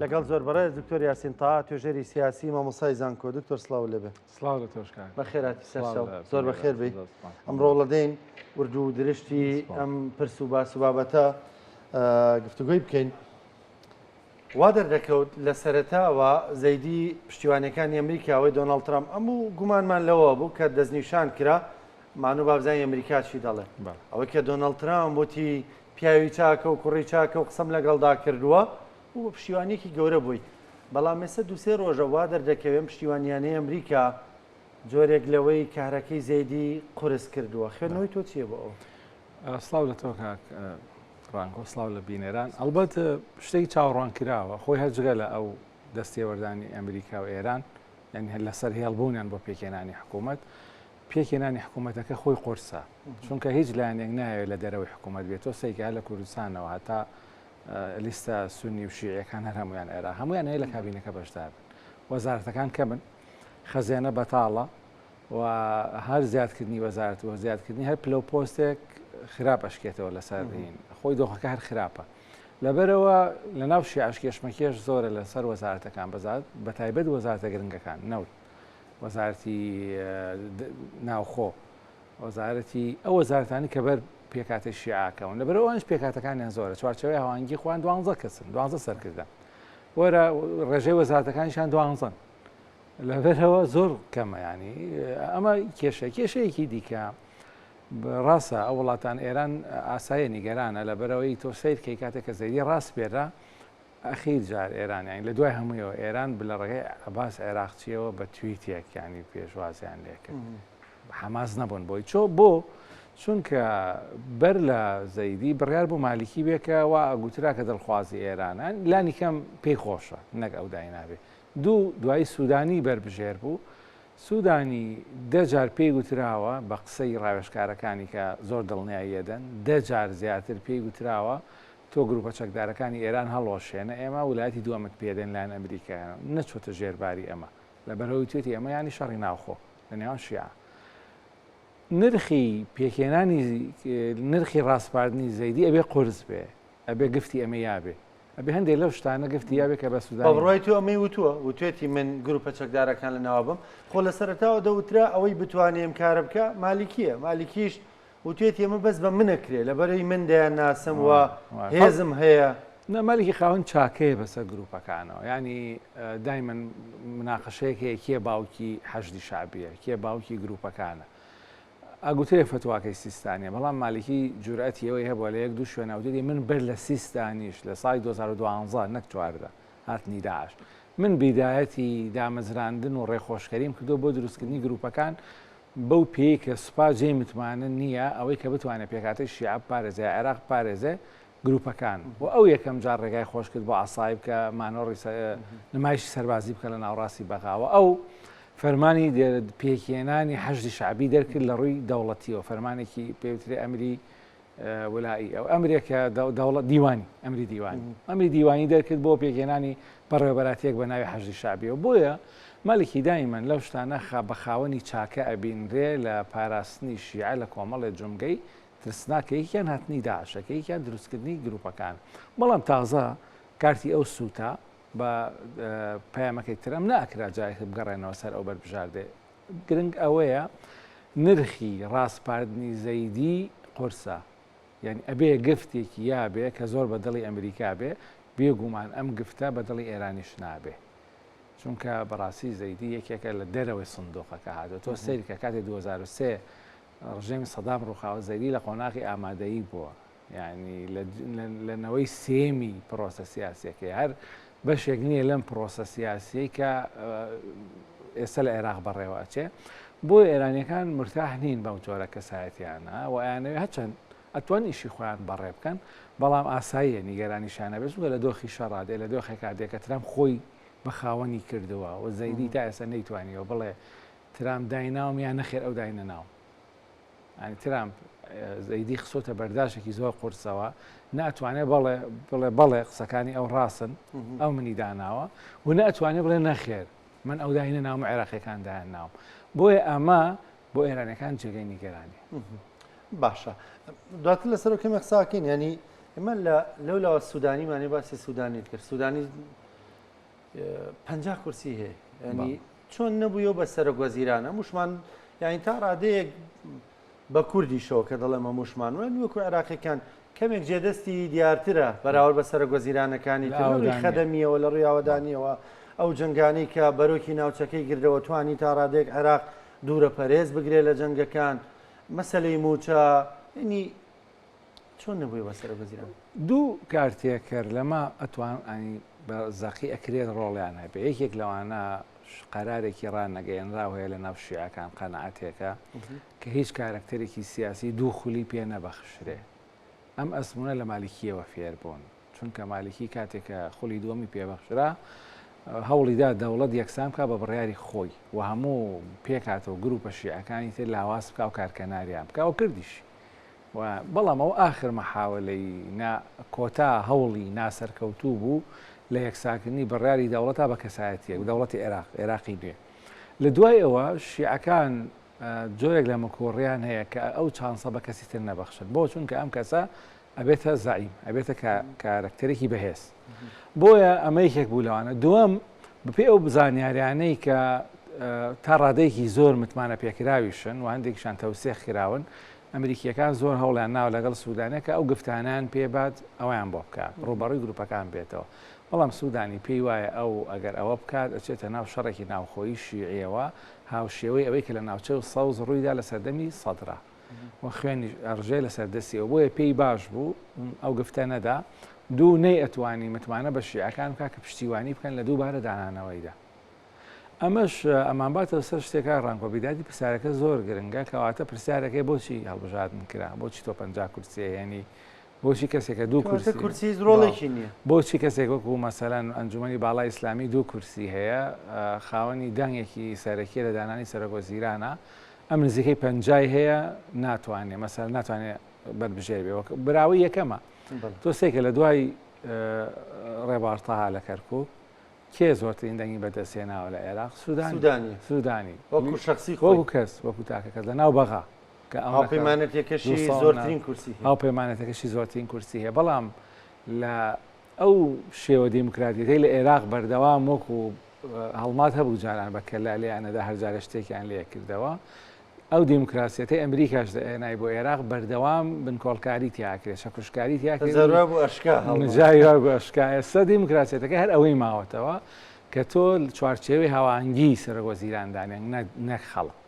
لەگەڵ زۆر بەڕێز دکتۆر یاسین تا توێژەری سیاسی مامۆسای زانکۆ دکتۆر سلااو لەبێ سلااو لە تۆشکان بە خێراتی سەر زۆر بە خێر بی ئەم ڕۆڵەدەین وردو و درشتی ئەم پرس و باس و بابەتە گفتوگوی بکەین وا دەردەکەوت لە سەرتاوە زەیدی پشتیوانەکانی ئەمریکاوەی دۆناڵ ترام ئەم و گومانمان لەوە بوو کە دەستنیشان کرا مانو بابزانانی ئەمریکاچی دەڵێ ئەوەی کە دۆناڵ ترام وتی پیاوی چاکە و کوڕی چاکە و قسەم لەگەڵدا کردووە و بە پشتیوانییەکی گەورە بووی، بەڵام ئێستا دوو سێ ڕۆژە وا دەردەکەوێ ئەم پشتیوانییانەی ئەمریکا جۆرێک لەوەی کەهرەکەی زەیدی قورس کردووە. خوێندنەوەی تۆ چییە بۆ ئەوە؟ سڵاو لە تۆ کاک ڕانک و سڵاو لە بینەران. ئەڵبەت شتێکی چاوەڕوانکراوە، خۆی هەر جگە لە ئەو دەستێوەردانی ئەمریکا و ئێران، یانی لەسەر هێڵبوونیان بۆ پێکهێنانی حکوومەت، پێکهێنانی حکوومەتەکە خۆی قۆرسە، چونکە هیچ لایەنێک نایەوێت لە دەرەوەی حکوومەت بێت، تۆ سەیرکە هەر لە کوردستانەوە هەتا لیستە سوننی و شیعییەکان هەر هەموویان عێراق، هەموویان هەیە لە کابینەکە بەشدار بن، وەزارەتەکان کەمن، خەزێنە بەتاڵە و هەر زیادکردنی وەزارەت و زیادکردنی هەر پلە و پۆستێک خراپ ئەشکێتەوە لەسەر دین خۆی دۆخەکە هەر خراپە. لەبەرەوە لە ناو شیعش کێشمەکێش زۆرە لەسەر وەزارەتەکان بەزات بە تایبەت وەزارتە گرنگەکان نەوت. وەزارەتی ناوخۆ وەزارەتی ئەو وەزارەتانی کە بەر پێکاتی شیعاکەون لە بەرەوەش پێکاتەکانیان زۆرە چوارچەوەی هاوانگی خوان دوانزە کەسن دوانزە سەرکردە وەرە ڕێژەی وەزارەتەکانیشان دوانزن لەبەرەوە زۆر کەمە ینی ئەمە کێشە کێشەیەکی دیکە ڕاستە ئەو وڵاتان ئێران ئاسایە نیگەرانە لە بەرەوەی تۆ سیرکەی کاتێک کە زەری ڕاستپێرە ئەخیر جار ئێران یانی لە دوای هەموویەوە ئێران بلە ڕێگەی عەباس عێراقچیەوە بە تویتێک یانی پێشوازیان لێکرد حەماس نەبوون بۆی چۆ بۆ چونکە بەر لە زەیدی بڕیار بۆ مالیکی بێکەوە ئەگوترا کە دڵخوازی ئێرانان لانی کەم پێی خۆشە نەک ئەو داینابێ دوو دوای سوودانی بەربژێر بوو سوودانی دەجار پێی گوتراوە بە قسەی ڕاوێشکارەکانی کە زۆر دڵنیاییەدەن دەجار زیاتر پێی گوتراوە تۆ گروپە چەکدارەکانی ئێران هەڵوەشێنە ئێمە ولایەتی دوەمت پێدەین لایەن ئەمریکایانەوە نەچۆتە ژێر باری ئەمە لەبەرئەوەی وتوێتی ئەمە یانی شەڕی ناوخۆ لە نێوان شیعە نرخی پێکێنانی نرخی ڕاسپاردنی زەیدی ئەبێ قرس بێ ئەبێ گفتی ئەمە یابێ ئەبێ هەندێک لەو شتانە گفتی یاێ کە بە سودا بڕای تو ئەمەی وتووە وتێتی من گروپە چەکدارەکان لە ناوابم خۆ لە سەرتاوە دەوترا ئەوەی بتوانێم کارە بکە مالیکیە مالیکیش وتوێتی ئەمە بەس بە منە کرێ لەبەرەی من دەیانناسم و هێزم هەیە. نا مەلیکی خاوەن چاکەیە بەسەر گروپەکانەوە یانی دایمەن مناقەشەیەک هەیە کێ باوکی حەشدی شعبیە کێ باوکی گروپەکانە ئەگوترێ فتواکەی سیستانە بەڵام مالیکی جورئەتی ئەوەی هەبووە لە یەک دوو شوێناوتێتی من بەر لە سیستانیش لە سای 2012 نەک چواردە هاتنی داعش من بیدایەتی دامەزراندن و ڕێخۆشکەریم کردو بۆ دروستکردنی گروپەکان بەو پێیەی کە سوپا جێی متمانە نییە ئەوەی کە بتوانێت پێکهاتەی شیعە بپارێزێ یا عێراق بپارێزێ گرووپەکان و ئەو یەکەم جار ڕێگای خۆش کرد بۆ عەسائیب کە مانۆڕی نمایشی سەربازی بکەن لە ناوڕاستی بەغا و ئەو فەرمانی پێکهێنانی حەشدی شەعبی دەرکرد لە ڕووی دەوڵەتییەوە فەرمانێکی پێ وترێ ئەمری ولائی ئەو ئەمرێک کە دەوڵەت دیوانی ئەمری دیوانی ئەمری دیوانی دەرکرد بۆ پێکهێنانی بەڕێوەبەراتێک بە ناوی حەژی شعبیەوە بۆیە مەلکی دایمەن لەو شتانە خا بە خاوەنی چاکە ئەبینرێ لە پاراستنی شیعە لە کۆمەڵێ جمگەی ترسناکەیەکیان هاتنی داعشەکەیکیان دروستکردنی گروپەکان بەڵام تازە کارتی ئەو سووتە بە پەیامەکەی ترەم ناکرا جارێک بگەڕێنەوە سەر ئەو بەربژاردێ گرنگ ئەوەیە نرخی ڕاسپاردنی زەیدی قورسە یانی ئەبێ گفتێکی یا بێ کە زۆر بە دڵی ئەمریکا بێ بێگومان ئەم گفتە بە دڵی ئێرانیش نابێ چونکە بەڕاستی زەیدی یەکێکە لە دەرەوەی سندۆقەکە هاتو تۆ سەیرکە کاتی 2023 ڕژێمی سەدام ڕووخاوە زەیدی لە قۆناغی ئامادەیی بووە یانی لە نەوەی سێمی پرۆسە سیاسیەکەی هەر بەشێک نییە لەم پرۆسە سیاسیەی کە ئێستا لە عێراق بەڕێوە ئەچێ بۆ ئێرانیەکان مرتاح نین بەم جۆرە کەسایەتیانە و ئەیانەوێ هەچەند ئەتوان ئیشی خۆیان بەڕێ بکەن بەڵام ئاساییە نیگەرانی شانە بێت لە دۆخی شەڕادێ لە دۆخێکا دێکە ترام خۆی بە خاوەنی کردووە و زەیدی تا ئێستا نەیتوانیەوە بڵێ ترام دایناوم یا نەخێر ئەو داینە ناو یانی ترامپ زەیدی خسۆتە بەرداشێکی زۆر قورسەوە ناتوانێت بەڵێ بڵێ بەڵێ قسەکانی ئەو ڕاستن ئەو منی داناوە و ناتوانێت بڵێ نەخێر من ئەو داینە ناوم عێراقیەکان دایان ناوم بۆیە ئەمە بۆ ئێرانەکان جێگەی نیگەرانی باشە دواتر لەسەر کەمێک قساکەین ینی ئمە لە لەو لاوە سوودانیمانێ باسی سوودانی کرد سوودانی پەنجا کورسی هەیە ینی چۆن نەبووە بە سەرۆک وەزیرانە موشمان یاین تا ڕادەیەک بە کوردیشەوە کە دەڵێمە موشمان وێن وەکو عێراقیەکان کەمێک جێدەستی دیارترە بەراورد بە سەرۆک وەزیرانەکانی تری خەدەمیەوە لە ڕویاوەدانیەوە ئەو جنگانی کە بەرۆکی ناوچەکەی گردەوە توانی تا ڕادێک عێراق دوورە پەرێز بگرێت لە جنگەکان مەسلەی موچە ینی چۆن نەبووی بە سەرۆک وەزیران دوو کارتێکەر لەمە ئەتوان ئەنی بە زەقی ئەکرێت ڕۆڵیان هەبێ یەکێک لەوانە قەرارێکی ڕانەگەیەنرا هەیە لە ناو شیعەکان قەنەعاتێکە کە هیچ کارەکتەرێکی سیاسی دوو خولی پێ نەبەخشرێ ئەم ئەسمونە لە مالیکیەوە فێر بوون چونکە مالیکی کاتێکە خولی دووەمی پێبەخشرا هەوڵیدا دەوڵەت یەکسان بکە بە بڕیاری خۆی و هەموو پێکاتەوە گروپە شیعەکانی تر لاواز بکە و کارکەناریان بکە و کردیش و بەڵام ئەو ئاخر مەحاوەلەی نا کۆتا هەوڵی ناسەرکەوتوو بوو لە یەکسانکردنی بڕیاری دەوڵەتا بە کەسایەتیەک، دەوڵەتی عێراق، عێراقی نوێ. لە دوای ئەوە شیعەکان جۆرێک لە مکوڕیان هەیە کە ئەو چانسە بە کەسی تر نەبەخشن. بۆ؟ چونکە ئەم کەسە ئەبێتە زەعیم، ئەبێتە کا کارەکتەرێکی بەهێز. بۆیە ئەمە یەکێک بوو لەوانە. دووەم، بەپێی ئەو زانیاریانەی کە تا ڕادەیەکی زۆر متمانەپێکراویشن و هەندێکیشان تەوسێخ کراون، ئەمریکییەکان زۆر هەوڵیان ناوە لەگەڵ سوودانە کە ئەو گفتانەیان پێ بات ئەوەیان بۆ بکات ڕووبەڕووی گرووپەکان بێتەوە، بەڵام سوودانی پێی وایە ئەو ئەگەر ئەوە بکات ئەچێتە ناو شەڕێکی ناوخۆیی شیعییەوە هاوشێوەی ئەوەی کە لە ناوچە سەوز ڕووی دا لە سەردەمی سەدرە و خوێنیش ئەڕژێ لەسەر دەستیەوە بۆیە پێی باش بوو ئەو گفتە نەدا دوو نەیئەتوانی متمانە بە شیعەکان بکات کە پشتیوانی بکەن لە دووبارە دانانەوەیدا. ئەمەش ئەمانباتەوە سەر شتێک کاک ڕامکۆ بیدادی پرسیارەکە زۆر گرنگە کەواتە پرسیارەکەی بۆچی هەڵبژاردن کرا بۆچی تۆ پەنجا کورسیە هێنی بۆچی کەسێکە دوو کورسی کورسی زرۆڵێکی نییە بۆچی کەسێک وەکو مەسەلەن ئەنجومی باڵای ئیسلامی دوو کورسی هەیە خاوەنی دەنگێکی سەرەکی لە دانانی سەرۆکۆ زیرانە ئەم نزیکەی پەنجای هەیە ناتوانێت مەسەر ناتوانێت بەربژێر بێ براوی یەکەمە تۆ سێکە لە دوای ڕێبارتەها لە کەرکک کێ زۆرترین دەنگی بەدەستهێناوە لە عێراق سودانی سودانی وەکو شخصی خۆ کەس وەکو تاکەکە لە ناو بەغا کە ئەوپەیمانەتەکەشی زۆرترین کورسی ئەو پەیمانەتەکەشی زۆرترین کورسی هەیە بەڵام لە ئەو شێوە دیموکراتیەکەی لە عێراق بەردەوام وەکو هەڵمات هەبوو جاران بە کەلا لێیانەدا هەرجارە شتێکیان لێکردەوە ئەو دیموکراسیەتەی ئەمریکاش دەئێنای بۆ ئێراق بەردەوام بنکۆڵکاری تیاکرێت شەکوشکاری تیاکرێتشکا ئێستا دیموکراسیەتەکە هەر ئەوەی ماوەتەوە کە تۆ چوارچێوی هاوانگی سەرۆک وەزیراندانیان نەک خەڵک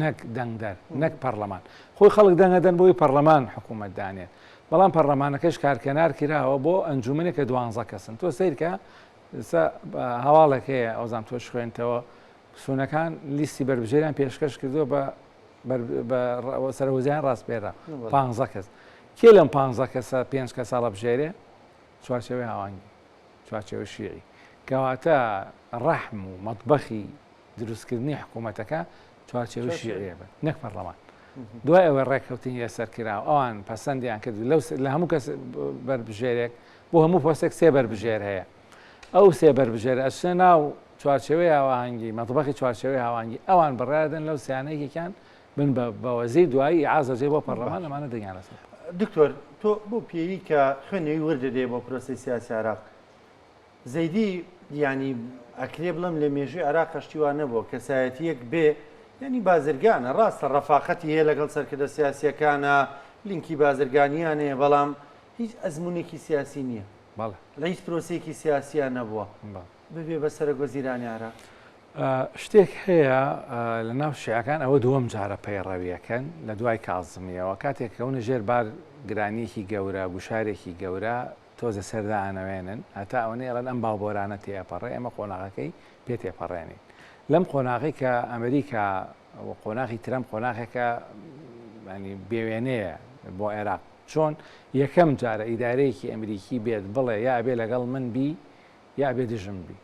نەک دەنگدەر نەک پەرلەمان خۆی خەڵک دەنگەدەن بۆی پەرلەمان حکوومەت دانێت بەڵام پەرلەمانەکەش کارکەنار کراوە بۆ ئەنجومنێک کە دوانزە کەسن تۆ سیرکە هەواڵێک هەیە ئەوزان تۆش خوێنتەوە سونەکان لیستی بەربژێریان پێشکەش کردووە بە سەرۆزیان ڕاستپێرە پ کەس کێ لەم پ کەسە پێ کە ساڵە بژێرێ چوارچەوەی هاوانگی چوارچەوە شیعی کەواتە ڕەحم و مەطبخی دروستکردنی حکوومەتەکە چوارچەوە شیعە بن نەک پەرلەمان دوای ئەوە ڕێککەوتنی لەسەر کرا ئەوان پەسەندیان کرد لەو لە هەموو کەس بەربژێرێک بۆ هەموو پۆستێک سێ بەربژێر هەیە ئەو سێ بەربژێرە ئەچنە ناو چوارچێوەی هاوهەنگی مەتبەخی چوارچێوەی هاوانگی ئەوان بڕیاردن لەو سیانە یەکێکیان بن بە بەوەزیر دوایی ئازەجێ بۆ پەرلەمان ئەمانە دەنگیانە دکتۆر تۆ بۆ پێوی کە خوێنەوەی وردە دێ بۆ پرۆسی سیاسی عراق زەیدی ینی ئەکرێ بڵم لە مێژوی عراق هەشتیوان نەبووە کەسایەتیەک بێ ینی بازرگانە ڕاستە ڕەفاقەتی هەیە لەگەڵ سەرکردە سیاسیەکانە لینکی بازرگانیانەیە بەڵام هیچ ئەزمونێکی سیاسی نیە بەڵێ. لە هیچ پرۆسەیەکی سیاسیا نەبووە بەڵێ. ببێ بە سەرەک وەزیرانی عێراق. شتێک هەیە لە ناو شیعەکان ئەوە دووەم جارە پەیڕەویەکەن لە دوای کازمیەوە کاتێک کەونە ژێر بار گرانیەکی گەورە گوشارێکی گەورە تۆزێ سەردانەوێنن هەتا ئەوەنە ئێڵێن ئەم باوبۆرانە تێ ئەپەڕێ ئێمە قۆناغەکەی پێ تێپەڕێنین لەم قۆناغی کە ئەمریکا ئەوە قۆناغی ترەمپ قۆناغێکە بێوێنەیە بۆ عێراق چۆن یەکەم جارە ئیدارەیەکی ئەمریکی بێت بڵێ یا ئەبێ لەگەڵ من بی یا ئەبێ دژم بی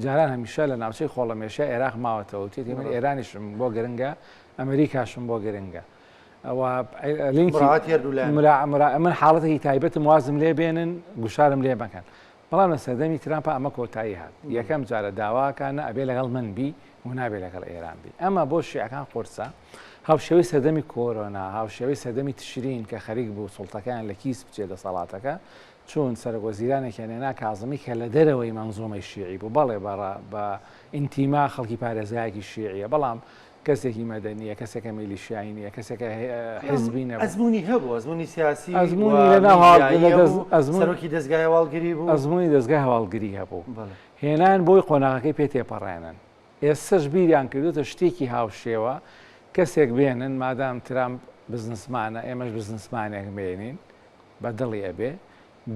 جاران هەمیشە لە ناوچەی خۆڵەمێشە عێراق ماوەتەوە تێتی من ئێرانیشم بۆ گرنگە ئەمریکاشم بۆ گرنگە ئەوە لینکی من حاڵەتێکی تایبەتم وازم لێ بێنن گوشارم لێ بەکەن بەڵام لە سەردەمی ترامپا ئەمە کۆتایی هات، یەکەم جارە داواکا نە ئەبێ لەگەڵ من بی و نابێ لەگەڵ ئێران بی. ئەمە بۆ شیعەکان قورسە، هاوشێوەی سەردەمی کۆرۆنا، هاوشێوەی سەردەمی تشرین کە خەریک بوو سوڵتەکەیان لە کیس بچێ دەسەڵاتەکە، چوون سەرۆک وەزیرانێکیان هێنا کازمی کە لە دەرەوەی مەنزومەی شیعی بوو، بەڵێ بە ئینتیما خەڵکی پارێزگایەکی شیعیە، بەڵام کەسێکی مەدەنی نیە، کەسێکە میلیشیایی نیە، کەسێکە حزبی نەبوو. ئەزموونی هەبوو، ئەزموونی سیاسی، ئەزموونی لە ناو هەواڵگری هەبوو، سەرۆکی دەزگای هەواڵگری بوو. ئەزموونی دەزگای هەواڵگری هەبوو. هێنایان بۆی قۆناغەکەی پێ تێپەڕێنن. ئێستەش بیریان کردووتە شتێکی هاوشێوە کەسێک بێنن، مادام ترامپ بزنسمانە ئێمەش بزنسمانێک بێنین، بە دڵی ئەبێ،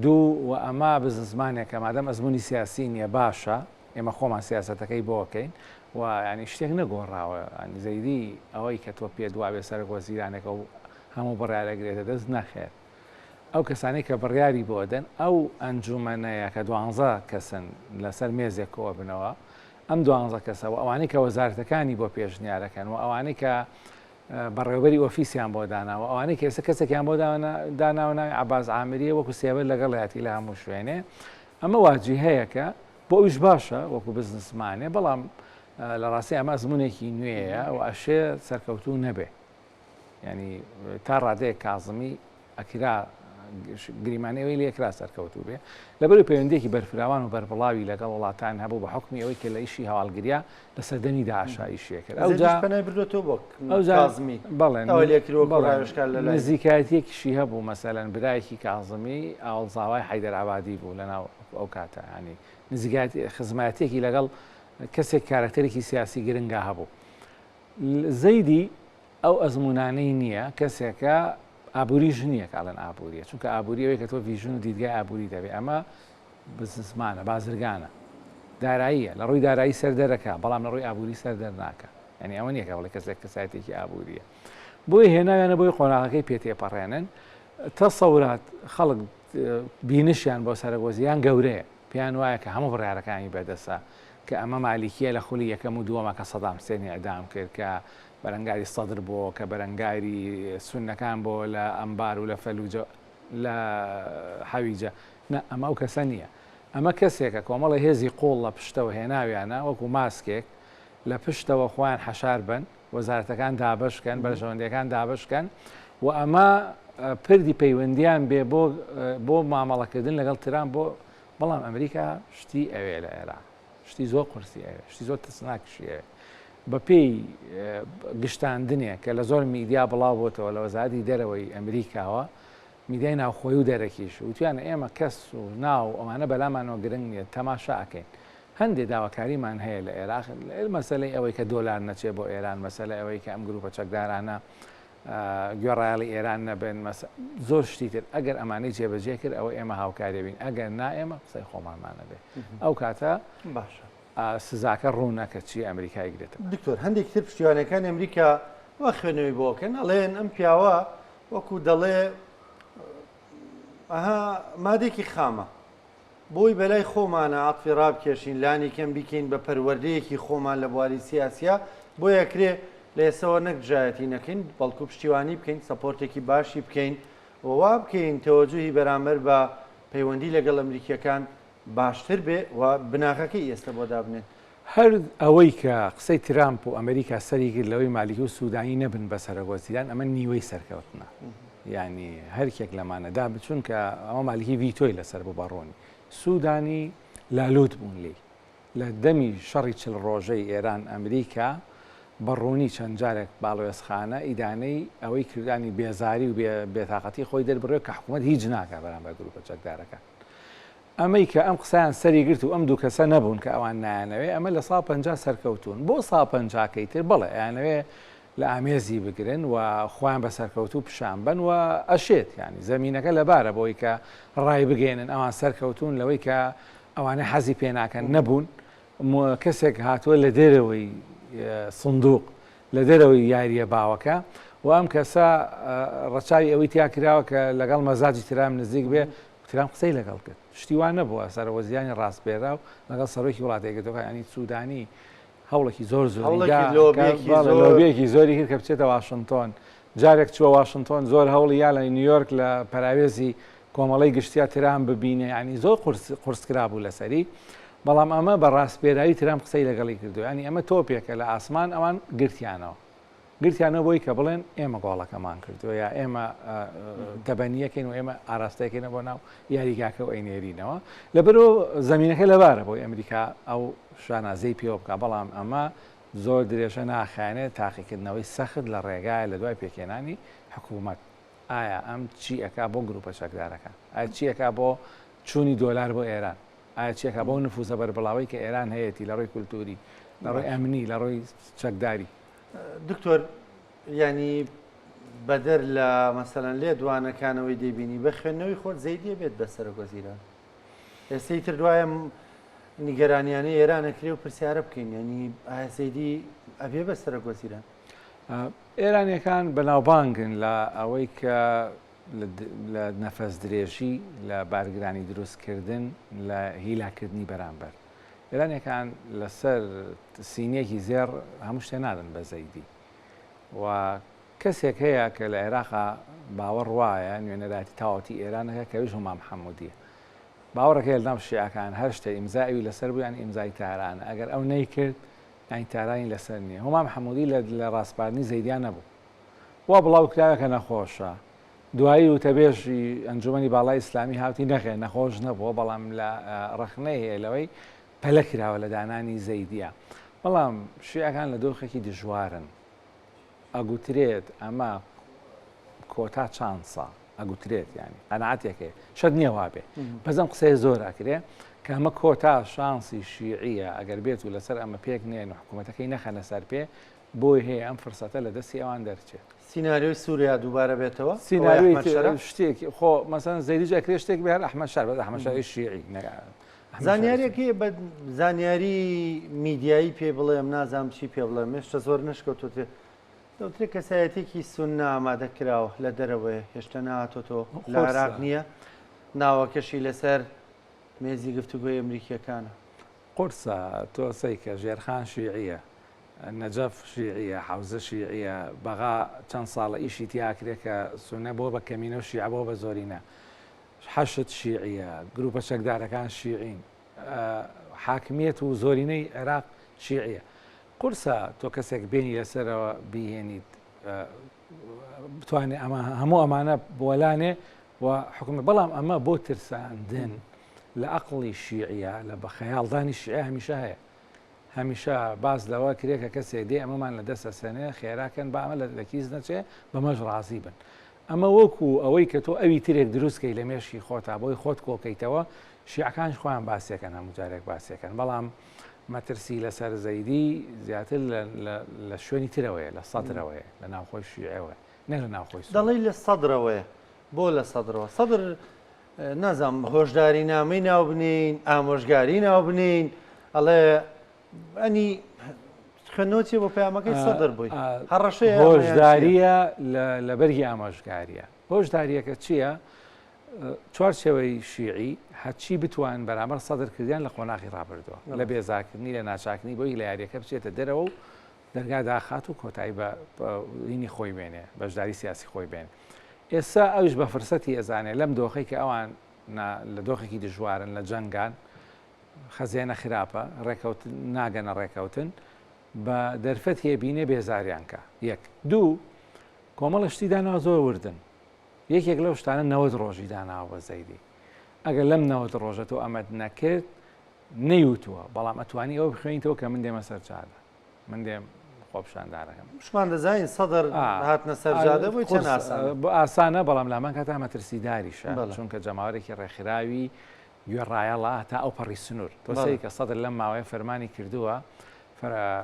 دوو، وە ئەمە بزنسمانێکە مادەم ئەزموونی سیاسی نیە باشە ئێمە خۆمان سیاسەتەکەی بۆ ئەکەین و یانی شتێک نەگۆڕاوە یانی زەیدی ئەوەی کە تۆ پێت وابێ سەرەک وەزیرانێک ئەو هەموو بڕیار ئەگرێتە دەست نەخێر ئەو کەسانەی کە بڕیاری بۆ ئەدەن ئەو ئەنجومەنەیە کە دوانزە کەسن لەسەر مێزێک کۆ ئەبنەوە ئەم دوانزە کەسە و ئەوانەی کە وەزارەتەکانی بۆ پێشنیار ئەکەن و ئەوانەی کە بەڕێوەبەری ئۆفیسیان بۆ داناوە ئەوانەی کە ئێستا کەسێکیان بۆ داناوە ناوی عەباس عامریە وەکو سێبەر لەگەڵیاتی لە هەموو شوێنێ ئەمە واجی هەیەکە بۆ ئەویش باشە وەکو بزنسمانێ بەڵام لە ڕاستی ئەمە ئەزمونێکی نوێیە و ئەشێ سەرکەوتوو نەبێ ینی تا ڕادەیە کازمی ئەکرا گریمان ئەوەی لێکرا سەرکەوتوو بێ لەبەرو پەیوەندێکی بەرفراوان و بەربڵاوی لەگەڵ وڵاتان هەبوو بە حکمی ئەوەی کە لە ئیشی هەواڵگریا لە سەردەمی داشایشیە کرد ئەوزمی بەڵێن نزیکایەتێکیشی هەبوو مەسەلەن برایەکی کازمی ئاوڵزاوای حیدەرعبادی بوو لەناو ئەو کاتەهانی نزیکات خزمەتێکی لەگەڵ کەسێک کارەکتەرێکی سیاسی گرنگە هەبوو زەیدی ئەو ئەزموونانەی نییە، کەسێکە ئابووری ژنییە کە ئەڵێن ئابوورییە، چونکە ئابووری ئەوەیە کە تۆ ڤیژن و دیدگای ئابووریت هەبێت، ئەمە بزنسمانە، بازرگانە، داراییە، لە ڕووی دارایی سەر دەرەکا، بەڵام لە ڕووی ئابووری سەر دەرناکا، یانی ئەوە نییە کە بڵێ کەسێک کەسایەتییەکی ئابوورییە. بۆیە هێناویانە بۆی قۆناغەکەی پێ تێپەڕێنن، تەسەورات خەڵک بینشیان بۆ سەرەک وەزیران گەورەیە، پێیان وایە کە هەموو بڕیارەکانی بەدەستە، کە ئەمە مالیکییە لە خولی یەکەم و دووەما کە سەدام حسێنی ئیعدام کرد، کە بەرەنگاری سەدر بۆ کە بەرەنگاری سونەکان بۆ لە ئەنبار و لە فەلوجە لە حەویجە نا ئەمە ئەو کەسە نییە ئەمە کەسێکە کۆمەڵی هێزی قوڵ لە پشتەوە هێناویانە وەکو ماسکێک لە پشتەوە خۆیان حەشار بن وەزارەتەکان دابشکەن بەرژەوەندەکان دابشکەن و ئەمە پردی پەیوەندیان بێ بۆ بۆ مامەڵەکردن لەگەڵ تران بۆ بەڵام ئەمریکا شتی ئەوێ لە عێراق شتی زۆر قورسی ئەوێ شتی زۆر ترسناکشی ئەوێ بەپێی گشتاندنێک کە لە زۆر میدیا بڵاو بۆتەوە لە وەزاتی دەرەوەی ئەمریکاوە میدای ناوخۆی و دەرەکیش وتیانە ئێمە کەس و ناو ئەوانە بەلامانەوە گرنگ نیە تەماشا ئەکەین هەندێک داواکاریمان هەیە لە عێراق مەسلەی ئەوەی کە دۆلار نەچێ بۆ ئێران مەسلە ئەوەی کە ئەم گروپە چەکدارانە گوێڕایەڵی ئێران نەبن، مەس. زۆر شتی تر، ئەگەر ئەمانەی جێبەجێ کرد ئەوە ئێمە هاوکاری بین، ئەگەر نا ئێمە قسەی خۆمانمان ئەبێ، ئەو کاتە باشە سزاکە ڕوونە کە چی ئەمریکا ئەیگرێتەبەر. دکتۆر هەندێکی تر پشتیوانەکانی ئەمریکا وا خوێنەوەی بۆ ئەکەن ئەڵێن ئەم پیاوە وەکوو دەڵێ ئەها مادێکی خامە بۆی بەلای خۆمانە عەتفی رابکێشین لانی کەم بیکەین بە پەروەردەیەکی خۆمان لە بواری سیاسیا بۆی ئەکرێ لە ئێستەوە نەک دژایەتی نەکەین بەڵکو پشتیوانی بکەین سەپۆرتێکی باشی بکەین و وابکەین تەوەجوهی بەرامبەر بە پەیوەندی لەگەڵ ئەمریکیەکان باشتر بێ و بناغەکەی ئێستە بۆ دابنێن هەر ئەوەی کە قسەی ترامپ و ئەمریکا سەری گرت لەوەی مالیکی و سودانی نەبن بە سەرۆک وەزیران ئەمە نیوەی سەرکەوتنە یانی هەرکێک لەمانەدا بچون کە ئەوە مالیکی ڤیتۆی لەسەر بوو بەڕوونی سودانی لالوت بوون لی لە دەمی شەڕی چل ڕۆژەی ئێران ئەمریکا بەڕوونی چەند جارێک باڵوێزخانە ئیدانەی ئەوەی کردانی بێزاری و بێتاقەتی خۆی دەربڕێ کە حکوومەت هیچ ناکە بەرامبەر گروپە چەکدارەکان ئەمەی کە ئەم قسەیان سەری گرت و ئەم دوو کەسە نەبوون کە ئەوان نایانەوێ، ئەمە لە ساڵ پەنجا سەرکەوتوون، بۆ ساڵ پەنجاکەی تر بەڵێ ئەیانەوێ لە ئامێزی بگرن و خۆیان بە سەرکەوتوو پیشان بەن و ئەشێت یانی زەمینەکە لەبارە بۆی کە ڕایبگەیەنن ئەوان سەرکەوتوون لەوەی کە ئەوانەی حەزی پێناکەن نەبوون کەسێک هاتووە لە دێرەوەی سندوق لە دەرەوەی یاریە باوەکە و ئەم کەسە ڕەچاوی ئەوەی تیا کراوە کە لەگەڵ مەزاجی ترام نزیک بێ ترەمپ قسەی لەگەڵ کرد شتی وا نەبووە سەرەوەزیانی ڕاستبێراو لەگەڵ سەرۆکی وڵاتە یەکگرتووەکانی سوودانی هەوڵێکی زۆر زۆرێکی زۆری کرد کە بچێتە واشنتۆن جارێک چووە واشنتۆن زۆر هەوڵی یا لە نیویۆرک لە پەراوێزی کۆمەڵی گشتیا ترام ببینێ ینی زۆر قرسکرا بوو لەسەری بەڵام ئەمە بە ڕاستپێراوی ترام قسەی لەگەڵی کردو ینی ئەمە تۆپێکە لە ئاسمان ئەوان گرتیانەوە گرتیانە بۆی کە بڵێن ئێمە گۆڵەکەمان کردووە یا ئێمە دەبەنیەکەین و ئێمە ئاراستەکەینە بۆ ناو یاریگاکە و ئەینێرینەوە لەبەرۆ زمینەکە لەبارە بۆی ئەمریکا ئەو شانازەی پێوە بکە بەڵام ئەمە زۆر درێژە ناخیانێت تاقیکردنەوەی سەخت لە ڕێگایە لە دوای پێکێنانی حکوومەت ئایا ئەم چی ئەک بۆ گروپە چەکدارەکە ئەچیەکە بۆ چوونی دۆلار بۆ ئێران ئایا چێکا بەو نفوزە بەربڵاوەی کە ئێران هەیەتی لە ڕووی کولتووری، لە ڕووی ئەمنی، لە ڕووی چەکداری؟ دکتۆر، یانی بەدەر لە مەسەلەن لێدوانەکانەوەی دەیبینی بە خوێندنەوەی خۆت زەیدیە بێت بە سەرۆکوەزیران؟ ئێستەی تر دوایە نیگەرانیانە ئێرانەکرێ و پرسیارە بکەین یعنی ئایا زەیدی ئەبێ بە سەرۆکوەزیران؟ ئێرانیەکان بەناوبانگن لە ئەوەی کە لە نەفەس درێژی، لە بارگرانی دروست کردن، لە هیلاک کردنی بەرامبەر. ئێرانیەکان لە سەر سینیەکی زێڕ هەموو شتێ نادەن بە زەیدی. و کەسێک هەیە کە لە عێراقا باوەڕ وایە نوێنەرایەتی تاواوتی ئێران ئەکا کە ئەویش هوما محمودیە. باوەڕێک هەیە لە ناو شیعەکان هەر شتێ ئیمزای ئەوی لە سەر بوو یانی ئیمزای تارانە ئەگەر ئەو نەیکرد یانی تارانی لە سەر نیە. هوما محمودی لە لە ڕاسپاردنی زەیدیا نەبوو. وا بڵاو کراوە کە نەخۆشە. دوایی وتەبێژی ئەنجومەنی باڵای ئیسلامی هاوتی نەخێر نەخۆش نەبووە بەڵام لە ڕەخنەی هەیە لەوەی پەلە کراوە لە دانانی زەیدیە بەڵام شیعەکان لە دۆخێکی دژوارن ئەگوترێت ئەمە کۆتا چانسە ئەگوترێت ینی قەنعاتێکێ شەد نییە وابێ بەزم قسەی زۆر ئەکرێ کە ئەمە کۆتا شانسی شیعە ئەگەر بێت و لەسەر ئەمە پێک نێن و حکوومەتەکەی نەخەنە سەر پێ بۆی هەیە ئەم فرسەتە لە دەستی ئەوان دەرچێت. سیناریۆی سوریا دووبارە بێتەوە؟ سیناریۆی ئەحمەد شەرع؟ سیناریۆی شتێکی خۆ مەسەلەن زەیدیش ئەکرێ شتێک بێ هەر ئەحمەد شەرع بەس ئەحمەد شەرعی شیعی نەک ئەحمەد شەرعی زانیاریەک سوننی. هەیە بە زانیاری میدیایی پێی بڵێم نازانم چی پێ بڵێم هێشتا زۆر نەشکەوتوتێ دەوترێت کەسایەتێکی سوننا ئامادە کراوە لە دەرەوەیە هێشتا نهاتۆتەوە لە قورسە. عێراق نییە ناوەکەشی لەسەر مێزی گفتوگۆی ئەمریکییەکانە. قورسە تۆ سەیکە ژێرخان شیعیە نەجەف شیعیە حەوزە شیعیە بەغا چەند ساڵە ئیشی تیا ئەکرێ کە سونە بووە بە کەمینە و شیعە بووە بە زۆرینە حەشد شیعیە گروپە چەکدارەکان شیعین حاکمیەت و زۆرینەی عێراق شیعیە قورسە تۆ کەسێک بینی لەسەرەوە بیهێنیت بتوانێت ئەمە هەموو ئەمانە بۆلانێ و حکومە بەڵام ئەمە بۆ ترساندن لە ئەقلی شیعە لە بە خەیاڵدانی شیعە هەمیشە هەیە هەمیشە باس لەوە کرێ کە کەسێ دێ ئەمەمان لە دەست ئەسەنێ خێراکەن با ئەمە لە کیس نەچێ بەمەش ڕازی بن ئەمە وەکو ئەوەی کە تۆ ئەوی ترێک دروستکەی لە مێشی خۆتا بۆی خۆت کۆکەیتەوە شیعەکانش خۆیان باسیەکەن هەموو جارێک باسیەکەن بەڵام مەترسی لەسەر زەیدی زیاتر لە شوێنی ترەوەیە لە سەدرەوەیە لە ناوخۆی شیعەوە نە لە ناوخۆی دەڵی لە سەدرەوەیە بۆ لە سەدرەوە سەدر نازانم هۆشدارینامەی ناوبنێین، ئامۆژگاری ناوبنێین، ئەڵێ ئەنی خوێندنەوەچی بۆ پەیامەکەی سەدر بووی هەڕەشەی هۆشداریە لە بەرگی ئاماژگاریە هۆشداریەکە چییە؟ چوار شێوەی شیعی هەچی بتوان بەرامەر سەدر کردیان لە قۆناغی ڕابردووە لە بێزاکردنی لە ناچاکنی بۆی لە یاریەکە بچێتە دەرەوە و دەرگا داخات و کۆتایی بە ینی خۆی بێنێ، بەشداری سیاسی خۆی بێن. ئێستا ئەویش بە فرسەتی ئەزانێ لەم دۆخەی کە ئەوان نا لە دۆخێکی دژوارن، لە جەنگان، خەزێنە خراپە، ڕێکەوت ناگەنە ڕێکەوتن، بە دەرفەتی ئەبینێ بێزاریان کا. یەک. دوو، کۆمەڵە شتی داناوە زۆر وردن. یەکێک لەو شتانە نەوەد ڕۆژی داناوە بە زەیدی. ئەگەر لەم نەوەد ڕۆژە تۆ ئەمەت نەکرد، نەیوتووە، بەڵام ئەتوانی ئەوە بخوێنیتەوە کە من دێمە سەر جادە. من دێم خۆپشاندانەکەم شمان دەزانین سەدر هاتنە سەرجادە بۆی چەند ئاسانە بۆ ئاسانە بەڵام لامان کاتا مەترسیداریشە چونکە جەماوەرێکی ڕێکخراوی گوێ ڕایەڵە تا ئەو پەڕی سنوور تۆسەی کە سەدر لەم ماوەیە فەرمانی کردووە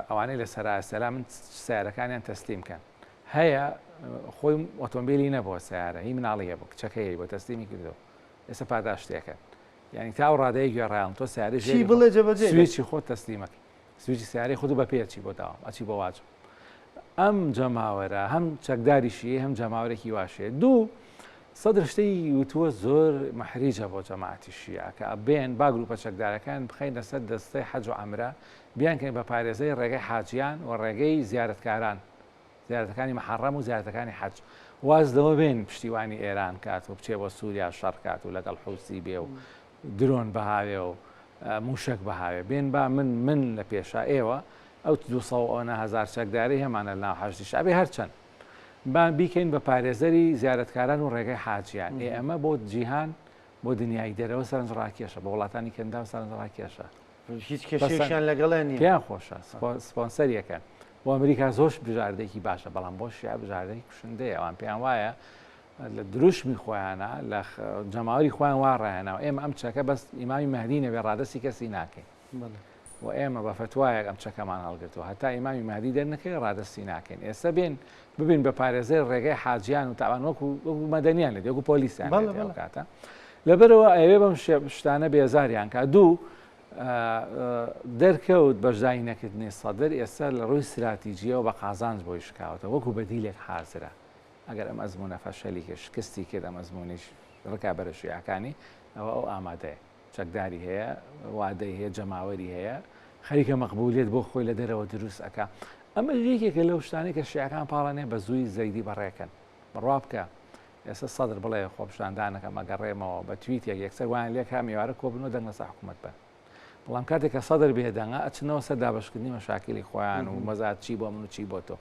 ئەوانەی لە سەراسەلا من سیارەکانیان تەسلیم کەن هەیە خۆی ئۆتۆمبیلی نەبووە سیارە هی مناڵی هەبوو کچەکەی بۆ تەسلیمی کردو ئێستا پاداشتێکە یعنی تا و ڕادەیە گوێڕیان تۆ سیارژی بڵێ جەبەجێ سویچی خۆ تەسلیمەکە سویچی سیارەی خۆتو بە پێ ئەچی بۆ داوام ئەچی بۆ واجب ئەم جەماوەرە هەم چەکداریشی هەم جەماورێکی واشێ دوو سەدر شتەی وتووە زۆر مەحریجە بۆ جەماعتی شیە کە ئەبێن با گروپە چەکدارەکان بخین لەسەر دەستەی حەج و ئەمرە بیانکەین بە پارێزەی ڕێگەی حاجیان و ڕێگەی زیارتکاران زیارەتەکانی محەڕەم و زیارەتەکانی حەج واز لەوە بێن پشتیوانی ئێران کات و بچێ بۆ سووریا شەڕکات و لەگەڵ حوسی بێ و درۆن بهاوێ و مووشەک بهاوێ بێن با من من لە پێشا ئێوە ئەو دوو سەد و ئەونە هەزار چەکدارەی هەمانە لەناو حەشدی شەعبی هەر چەند با بیکەین بە پارێزەری زیارەتکاران و ڕێگەی حاجیان ئێ ئەمە بۆ جیهان بۆ دنیای دەرەوە سەرنج ڕاکێشە بۆ وڵاتانی کەنداو سەرنج ڕاکێشە هیچ کەسێکیان لەگەڵیان نییە پێیان خۆشە سپۆنسەریەکەن بۆ ئەمریکا زۆرش بژاردەیەکی باشە بەڵام بۆ شیعە بژاردەی کوشندەیە ئەوان پێیان وایە لە دروشمی خۆیانە لە جەماوەری خۆیان وا ڕاهێناوە ئێمە ئەم چەکە بەس ئیمامی مەهدی نەبێ ڕادەستی کەسی ناکەین و ئێمە بە فتوایەک ئەم چەکەمان هەڵگرتووە هەتا ئیمامی مەهدی دەرنەکەی ڕادەستی ناکەین ئێستا بێن ببین بە پارێزەر ڕێگەی حاجیان و تاوان وەکو وەکو مەدەنیان لە دێکو پۆلیسیان کاتە لەبەرەوە ئەوێ بەم شتانە بێزاریان کا دوو دەرکەوت بەشدای نەکردنی سەدر ئێستا لە ڕووی سراتیجیەوە بە قازانج بۆی شکاوتە وەکو بەدیلێک حازرە ئەگەر ئەم ئەزموونە فەشەلی کرد، شکستی کرد، ئەم ئەزموونیش ڕکابەرە شیعەکانی، ئەوا ئەو ئامادەیە، چەکداری هەیە، وادەی هەیە، جەماوەری هەیە، خەریکە مەقبوولیەت بۆ خۆی لە دەرەوە دروست ئەکا. ئەمەش یەکێکە لەو شتانەی کە شیعەکان پاڵانێ بە زووی زەیدی بەڕێ کەن. بڕوا بکە ئێستا سەدر بڵێ خۆپیشاندان ئەکەم، ئەگەڕێمەوە، بە تویتێک یەکسەر وایان لێ کام ئێوارە کۆ بن و دەنگ لە سەر حکوومەت بەن. بەڵام کاتێک کە سەدر بێدەنگە، ئەچنەوە سەر دابەشکردنی مەشاکیلی خۆیان و مەزات چی بۆ من و چی بۆ تۆ.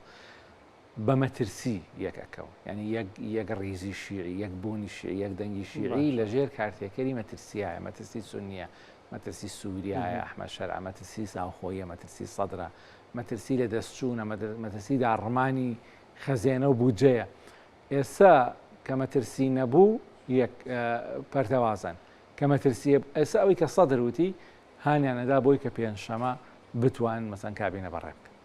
بە مەترسی یەک ئەکەون یعنی یەک یەک ڕیزی شیعی یەک بوونی شیعی یەک دەنگی شیعی لە ژێر کارتێکەری مەترسیایە مەترسی سنیە مەترسی سووریایە ئەحمە شەرع مەترسی ساوخۆیە مەترسی سەدرە مەترسی لە دەستچوونە مەترسی داڕمانی خەزێنە و بودجەیە ئێستا کە مەترسی نەبوو یەک پەرتەوازن کە مەترسیە ئێستا ئەوی کە سەدر وتی هانیانەدا بۆی کە پێنج شەمە بتوان مەسەن کابینە بەڕێ بکەن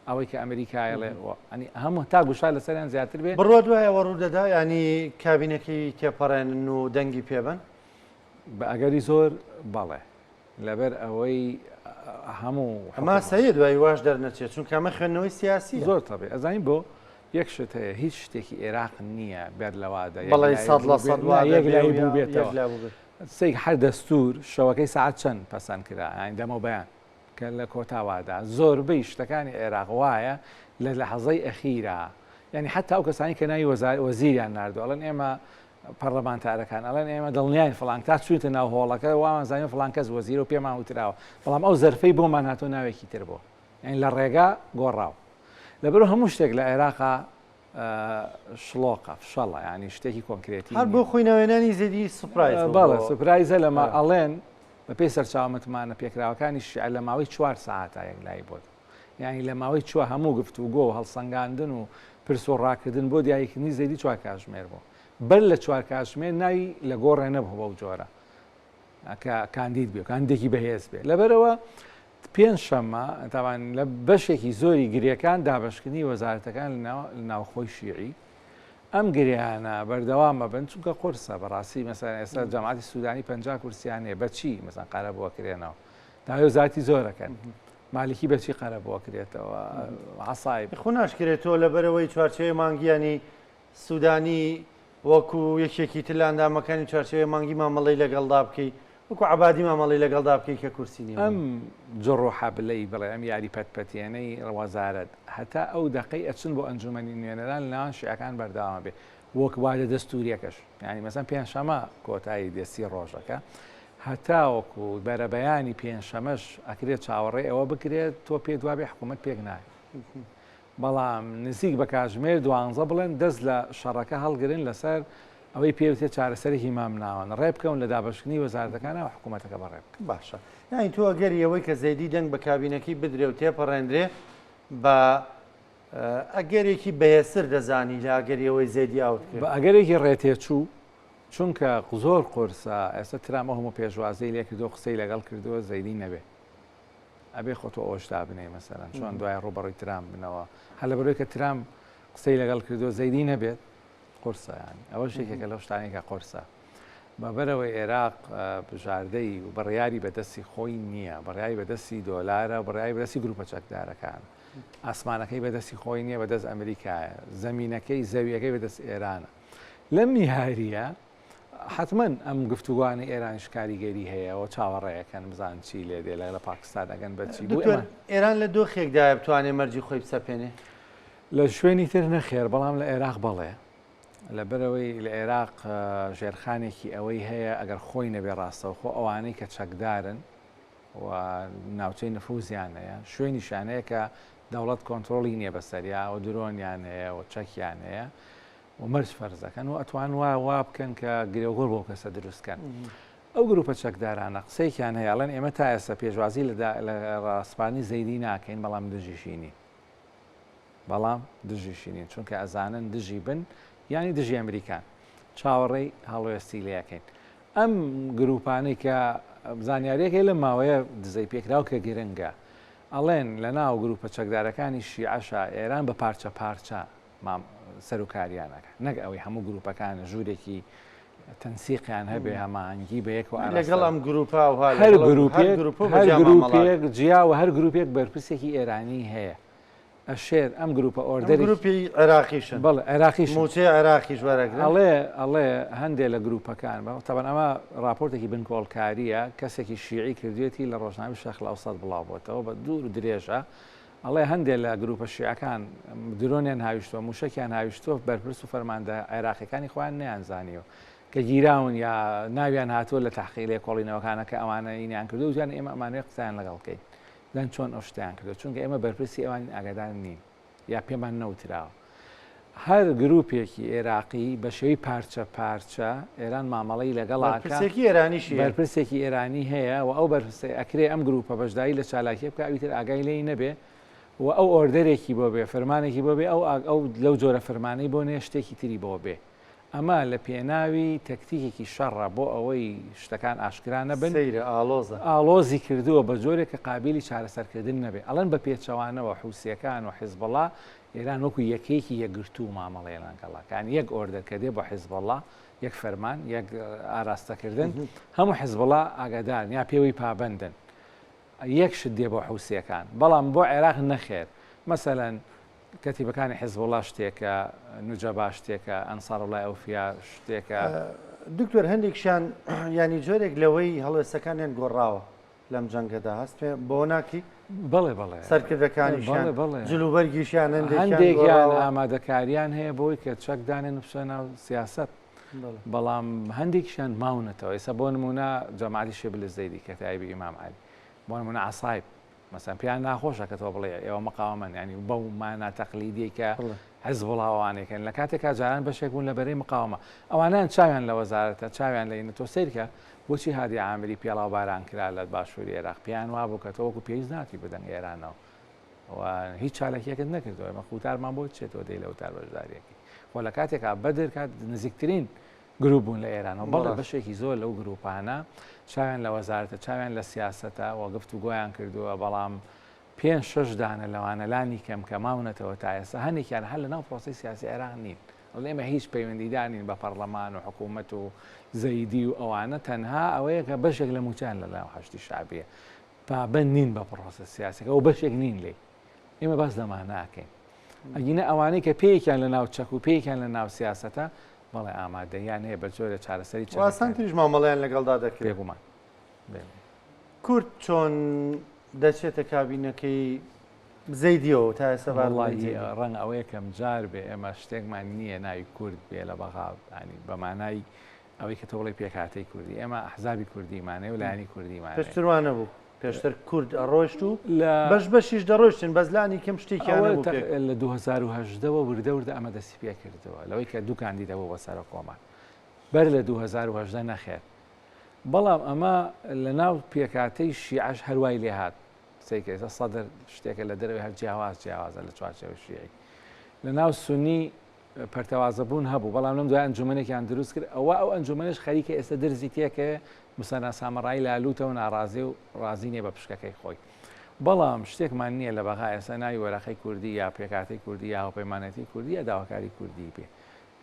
ئەوەی کە ئەمریکایە ڵێ ئەنی هەموو تا گوشار لەسەریان زیاتر بێ بڕوە دوای ئەوە ڕوودەدا ینی کابینەکەی تێپەڕێنن و دەنگی پێبن بە ئەگەری زۆر بەڵێ لەبەر ئەوەی هەموو ئەما سەیە دوای واش دەرنەچێت چون کامە خوێندنەوەی سیاسی زۆر تەبێ ئەزانین بۆ یەک شت هەیە هیچ شتێکی عێراق نییە بێت لەوادە بەڵی سەد لە سەد یەک لای بوو بێتەوە سێک هەر دەستور شەوەکەی سعات چەند پەسەند کرا ئاین دەمەوە بەیان کە لە کۆتاوادا زۆربەی شتەکانی عێراق وایە لە لەحەزەی ئەخیرا یعنی حتا ئەو کەسانی کە ناوی وەزار وەزیریان ناردو ئەڵەن ئێمە پەرلەمانتارەکان ئەڵەن ئێمە دڵنیاین فلان تا چوینتە ناو هۆڵەکە وامان زانین فلان کەس وەزیرە و پێمان وتراوە بەڵام ئەو زەرفەی بۆمان هاتۆ ناوێکی تر بۆ یعنی لە ڕێگا گۆڕاو لەبەر هەموو شتێک لە عێراقا شڵۆقە، فشەڵە، یانی شتێکی کۆنکرێتی نیە. هەر بۆ خۆی ناوێنانی زێدی سوپرایز بوو. بەڵێ سوپرایزە لە ما ئەڵێن بە پێی سەرچاوە متمانە پێکراوەکانی شیعە لە ماوەی چوار سەعاتا یەکلایی بۆ دەبوو. یانی لە ماوەی چوە هەموو گفتوگۆ و هەڵسەنگاندن و پرس و ڕاکردن بۆ دیاریکردنی زێدی چوار کاتژمێر بوو. بەر لە چوار کاتژمێر ناوی لە گۆڕێ نەبوو بەو جۆرە کە کاندید بێ و کاندیدێکی بەهێز بێ. لەبەرەوە پێنج شەممە تاوان لە بەشێکی زۆری گرێکان دابەشکردنی وەزارەتەکان لە ناوخۆی شیعی ئەم گرێیانە بەردەوام مەبن چونکە قرسە بەڕاستی مەسەن ئێستا جەماتی سوودانی پ کورسیانێ بەچی مەسان قارە بووە کرێنەوە داوێ زیاتی زۆرەکەن مالکی بەچی قەرە بۆ کرێتەوە عسای خۆ ناشکرێت تۆ لەبەرەوەی چوارچەیە مانگیانی سودانی وەکو یەکێکی تر لە ئەندامەکانی چوارچێوەی مانگی مامەڵەی لەگەڵدا بکەی وەکو عەبادی مامەڵەی لەگەڵدا بکەی کە کورسی نیە بۆی. ئەم جڕ و حەبلەی بڵێ ئەم یاری پەت پەتێنەی وەزارەت هەتا ئەو دەقەی ئەچن بۆ ئەنجومەنی نوێنەران لە نێوان شیعەکان بەردەوامە بێ وەک وادە دەستوریەکەش یانی مەسەن پێنجشەمە کۆتایی دێ سی ڕۆژەکە هەتاوەکو بەرەبەیانی پێنجشەمەش ئەکرێت چاوەڕێ ئەوە بکرێت تۆ پێت وابێ حکومەت پێک نایە بەڵام نزیک بە کاتژمێر دوانزە بڵێن دەست لە شەڕەکە هەڵگرن لەسەر ئەوەی پێوترێت چارەسەرێکی مامناوەند، ڕێبکەون لە دابەشکردنی وەزارەتەکانە و حکوومەتەکە بەڕێبکەن. باشە یانی تۆ ئەگەری ئەوەی کە زەیدی دەنگ بە کابینەکەی بدرێ و تێپەڕێندرێ بە ئەگەرێکی بەهێزتر دەزانی لە ئەگەری ئەوەی زەیدی ئاوت کرد؟ بە ئەگەرێکی ڕێتێچوو، چونکە زۆر قورسە ئێستا ترامپ ئەو هەموو پێشوازیی لێکردووە و قسەی لەگەڵ کردووە زەیدی نەبێ. ئەبێ خۆ تۆ ئەوەش دابنێی مەسەرەن چۆن دوای ڕوبەڕی ترام بنەوە هەر لە بەرەوەی کە ترام قسەی لەگەڵ کردو زەیدی نەبێت قرسەیان ئەوە شێکێکە لەو شتانێکە قرسە بەبەرەوەی عێراق بژاردەی و بڕیاری بەدەستی خۆی نییە بڕیاری بەدەستی دۆلارە و بڕیاری بەدەستی گروپە چەکدارەکان ئاسمانەکەی بەدەستی خۆی نییە بەدەست ئەمریکایە زمینینەکەی زەویەکەی بەدەست ئێرانە لەم نیهاریە حەتمەن ئەم گفتوگۆانەی ئێرانیش کاریگەری هەیە و چاوەڕێیەکەن بزان چی لێ دێ لە پاکستان ئەگەن بە چی بۆ ئێران لە دۆخێکدایە بتوانێت مەرجی خۆی بسەپێنێ لە شوێنی تر نەخێر بەڵام لە عێراق بەڵێ لەبەرەوەی لە عێراق ژێرخانێکی ئەوەی هەیە ئەگەر خۆی نەبێ ڕاستەوخۆ ئەوانەی کە چەکدارن و ناوچەی نفوزیان هەیە شوێنی شانەیە کە دەوڵەت کۆنتترۆلی نییە بەسەریا و درۆنیان هەیە و چەکیان هەیە و مەرج فەرز دەکەن و ئەتوان وا وا بکەن کە گرێوگۆر بۆ کەسە دروست کەن ئەو گروپە چەکدارانە قسەیکیان هەیە ئەڵێن ئێمە تا ئێستا پێشوازی لە ڕاسپانی زەیدی ناکەین بەڵام دژیشینی بەڵام دژیشینین چونکە ئەزانن دژی بن ینی دژی ئەمریکان چاوەڕێی هەڵوێستی لەکەین ئەم گروپانەی کە زانیاریەکەی لە ماوەیە دزەی پێکراو کە گرنگە ئەڵێن لە ناو گروپە چەکدارەکانی شیعشا ئێران بە پارچە پارچە سەروکاریان ئەکات نەک ئەوەی هەموو گروپەکان ژوورێکی تەنسیقیان هەبێ هەمانگی بە یەکەوە لەگەڵ ئەم گروپا و هەر گروپێک جیا و هەر گروپێک بەرپرسێکی ئێرانی هەیە ئەشێر ئەم گروپە ئۆردەر گروپی عێراقیشن بڵ عێراقی موچەی عێراقی ژوارەگەڵێ ئەڵێ هەندێک لە گروپەکان بە تەبەن ئەمە راپۆرتێکی بنکۆڵکاریە کەسێکی شیعی کردوێتی لە ڕۆژناوی شەخلااوسەد بڵاوبتەوە بە دوور درێژە ئەڵێ هەندێ لە گروپە شیعەکان درۆنیان هاویشتوە موشەکیان هاویشتوە بەرپرس و فەرماندە عێراقیەکانی خۆیان نەیان زانیوە کە گیراون یا ناویان هاتووە لە تحقی لێ کۆڵینەوەکانە کە ئەوانە ینیان کردو وتیان ئێمە ئەمانوێ قسەیان لەگەڵ بکەین دەن چۆن ئەو شتیان کردو چونکە ئێمە بەرپرسی ئەوان ئاگادار نین یا پێمان نەوتراوە هەر گروپێکی ئێراقی بە شێوەی پارچە پارچە ئێران مامەڵەی لەگەڵا کە بەرپرسێکی ئێرانیش هەیە. بەرپرسێکی ئێرانی هەیە و ئەو بەرپرسەی ئەکرێ ئەم گروپە بەشداری لە چالاکییە بکا ئەوی تر ئاگای لێی نەبێ و ئەو ئۆردەرێکی بۆ بێ، فەرمانێکی بۆ بێ ئەو ئاگ ئەو لەو جۆرە فەرمانەی بۆ نێ شتێکی تری بۆ بێ. ئەمە لە پێناوی تەکتیکێکی شەڕە بۆ ئەوەی شتەکان ئاشکرا نەبن. سەیرە ئاڵۆزە. ئاڵۆزی کردووە بە جۆرێک کە قابیلی چارەسەرکردن نەبێ. ئەڵێن بە پێچەوانەوە حوسییەکان و حیزبوڵا ئێران وەکو یەکەیەکی یەکگرتوو مامەڵەیە لەنگەڵا کە یەک ئۆردەر کە دێ بۆ حیزبەڵا یەک فەرمان یەک ئاراستەکردن هەموو حیزبڵا ئاگادارن یا پێوەی پابەندن یەک شت دێ بۆ حوسیەکان بەڵام بۆ عێراق نەخێر مەسەەن کەتیبەکانی حیزبڵا شتێکە نوجەبا شتێکە ئەنسار وڵای ئەوفیا شتێکە دکتۆر هەندێکشان ینی جۆرێک لەوەی هەڵوێستەکانیان گۆڕاوە لەم جەنگەدا هەست پێ بۆ ناکەی؟ بەڵێ بەڵێ سەرکردەکانیشیان بەڵێ بەڵێ جل و بەرگیشیان هەندێکیان هەندێکیان گۆڕاوە. ئامادەکاریان هەیە بۆی کە چەک دانێن و بچنە ناو سیاسەت بەڵێ. بەڵام هەندێکیشیان ماونەتەوە ئێستا بۆ نموونە جەمالی شێبلی زەیدی کە تایبی ئیمام عەلی بۆ نموونە عەسایب مەسەن پێیان ناخۆشە کە تۆ بڵێ ئێوە مقاوەمەن یعنی بەو مانا تەقلیدیەی کە بەڵێ. حزبوڵا و ئەوانەی کەن لە کاتێکا جاران بەشێک بوون لە بەرەی مقاوەمە ئەوانیان چاویان لە وەزارەتە چاویان لە ئینە تۆ سەیرکە بۆچی هادی عامری پێڵاو باران کرا لە باشوری ئێراق پێیان وابوو کە تۆ وەکو پێویست ناتی بدەنگ ئێرانەوە و هیچ چاالکیەکت نەکردەوە مە قوتارمان بۆ چێتەوە دەی لە وتار بەشداریەکەی خۆ لە کاتێکا بەدر کات نزیکترین گروپ بوون لە ئێران و بەڵێ بەشێکی زۆر لەو گروپانە چاویان لە وەزارتە چاویان لە سیاستە وەگفت و گویان کردووە بەڵام پێنج شش دانە لەوانە لانی کەم کە ماونەتەوە تا ئێستا هەنێکیان هەر لە ناو پرۆسی سیاسی عێراق نین وەڵی ئێمە هیچ پەیوەندیدار نین بە پەڕڵەمان و حکوومەت و زەیدی و ئەوانە تەنها ئەوەیە کە بەشێک لە مووچەیان لە لایەن حەشدی شەعبییە پابەند نین بە پڕۆسە سیاسەکە و بەشێک نین لێی ئێمە باس لەمان ناکەین ئەگینە ئەوانەی کە پێیەکیان لە ناو چەک و پێیەکیان لە ناو سیاسەتە بەڵێ ئامادەیان هەیە بە جۆرە چارەسەری چاسان تریش مامەڵیان لەگەڵدا دەکرێت بێگومان کورد چۆن دەچێتە کابینەکەی بزەی دیەوە تا ئێستا بار وەڵاهی ڕەنگ ئەوە یەکەم جار بێ ئێمە شتێکمان نییە ناوی کورد بێ لە بەغا ینی بەمانایی ئەوەی کە تۆڵی پێکاتی کوردی ئێمە حزابی کوردیمانێ و لایانی کوردیمان پێشتروانە بوو پێشتر کورد ئەڕۆشت و لە بەش بەشیش دەڕۆشتن بەزلانی کەم شتێکیان لە 2010ەوە وردە وردە ئەمە دەستی پێ کردەوە لەوەی کە دووکاندی دەبوو بە سەرە کۆمان بەر لە 2010 نەخێت بەڵام ئەمە لە ناو پێکاتەی شیعش هەروای لێهات قسەی کە ئێستا سەدر شتێکە لە دەرەوەی هەر جیاواز جیاوازە لە چوارچێوە شیعی لە ناو سنی پەرتەوازەبوون هەبوو بەڵام لەم دوای ئەنجومەنێکیان دروست کرد ئەوە ئەو ئەنجومەنش خەریکە ئێستا درزی تێکەوێ مسەنا سامەڕایی لالوتە و ناڕازی و ڕازی نیە بە پشکەکەی خۆی بەڵام شتێکمان نییە لە بەغا ئێستا ناوی وەرەقەی کوردی یا پێکاتی کوردی یا هەپەیمانەتی کوردی یا داواکاری کوردی بێ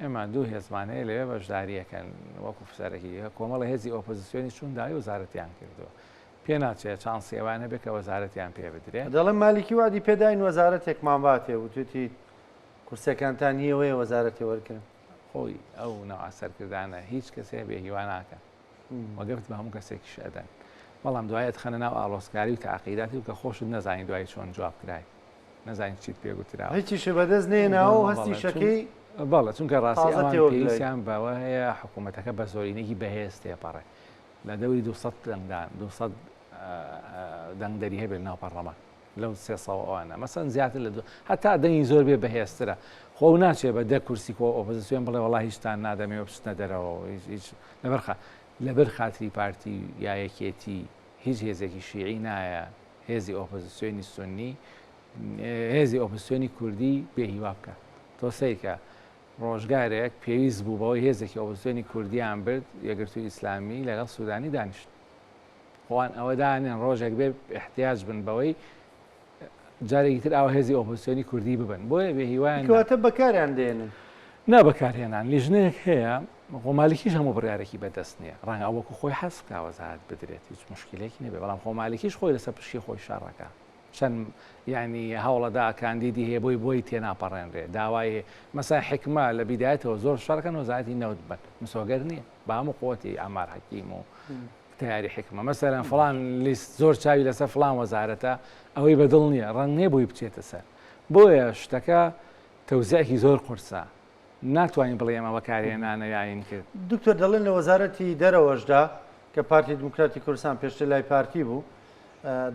ئێمە دوو هێزمان هەیە لەوێ بەشداریەکەن وەکو فسەرەکی کۆمەڵە هێزی ئۆپۆزیسیۆنی چون داوی وەزارەتیان کردووە پێ ناچێ چانسی ئەوان هەبێ کە وەزارەتیان پێ بدرێ. دەڵێم مالیکی وەعدی پێ داین وەزارەتێکمان باتێ، وتویەتی کورسیەکانتان نیە وەیە وەزارەتێ وەرگرن. خۆی ئەو نەوعە سەرکردانە هیچ کەسێ بێ هیوا ناکەن و گەفت بە هەموو کەسێکیش ئەدەن، بەڵام دوای ئەتخەنە ناو ئاڵۆزکاری و تەعقیداتی و کە خۆشت نەزانی دوایی چۆن جواب کرای، نەزانی چیت پێ گوتراوە. هیچیشت بەدەست نەهێناوە و هەستی شەکەی تازە تێوە گلەیت. بەڵێ چونکە ڕاستی ئەوان پێویستیان بەوە هەیە حکوومەتەکە بە زۆرینەیەکی بەهێز تێپەڕێ، لە دەوری دوو سەد دەنگدان دوو سەد دەنگدەری هەبێت لەناو پەڕلەمان لەو سێ سەد ئەوانە مەسەن زیاتر لە دوو هەتا دەنگی زۆر بێ بەهێزترە خۆ و ناچێ بە دە کورسی کۆ ئۆپۆزیسیۆن بڵێ وڵا هیچتان نادەمێ و بچنە دەرەوە هیچ هیچ لەبەرخە لەبەر خاتری پارتی یا یەکێتی هیچ هێزێکی شیعی نایە هێزی ئۆپۆزیسیۆنی سنی هێزی ئۆپۆزیسیۆنی کوردی بێهیوا بکە تۆ سەیرکە ڕۆژگارێک پێویست بوو بەوەی هێزێکی ئۆپۆزسیۆنی کوردییان برد، یەکگرتووی ئیسلامی، لەگەڵ سوودانی دانیشن. خۆان ئەوە دانێن ڕۆژێک بێ ئیحتیاج بن بەوەی جارێکی تر ئاوا هێزی ئۆپۆزسیۆنی کوردی ببن. بۆیە بێ هیوایان نەبوو. کەواتە بەکاریان دێنن. نا بەکارهێنان لیژنەیەک هەیە، خۆ مالکیش هەموو بڕیارێکی بەدەست نییە. ڕەنگە ئەو وەکوو خۆی حەز بکا وەزارەت بدرێت، هیچ موشکیلەیەکی نەبێت، بەڵام خۆ مالکیش خۆی لەسەر پشکی خۆی شەڕ ئەکا. چەند یانی هەوڵەدا کاندیدی هەیە بۆی بۆی تێناپەڕێنرێ داوای مەسەن حیکمە لە بیدایەتەوە زۆر شەڕکەن وەزارەتی نەوت بەن مسۆگەر نییە بە هەموو قوتی ئامار حەکیم و تیاری حکمە مەسەرەن فلان لیست زۆر چاوی لەسەر فلان وەزارەتە ئەوەی بەدڵ نییە ڕەنگێ بووی بچێتە سەر بۆیە شتەکە تەوزیعکی زۆر قورسە ناتوانین بڵێ ئێمە بەکارهێنانە یاین کرد. دکتۆر دەڵێن لە وەزارەتی دەرەوەشدا کە پارتی دیموکراتی کوردستان پێشتر لای پارتی بوو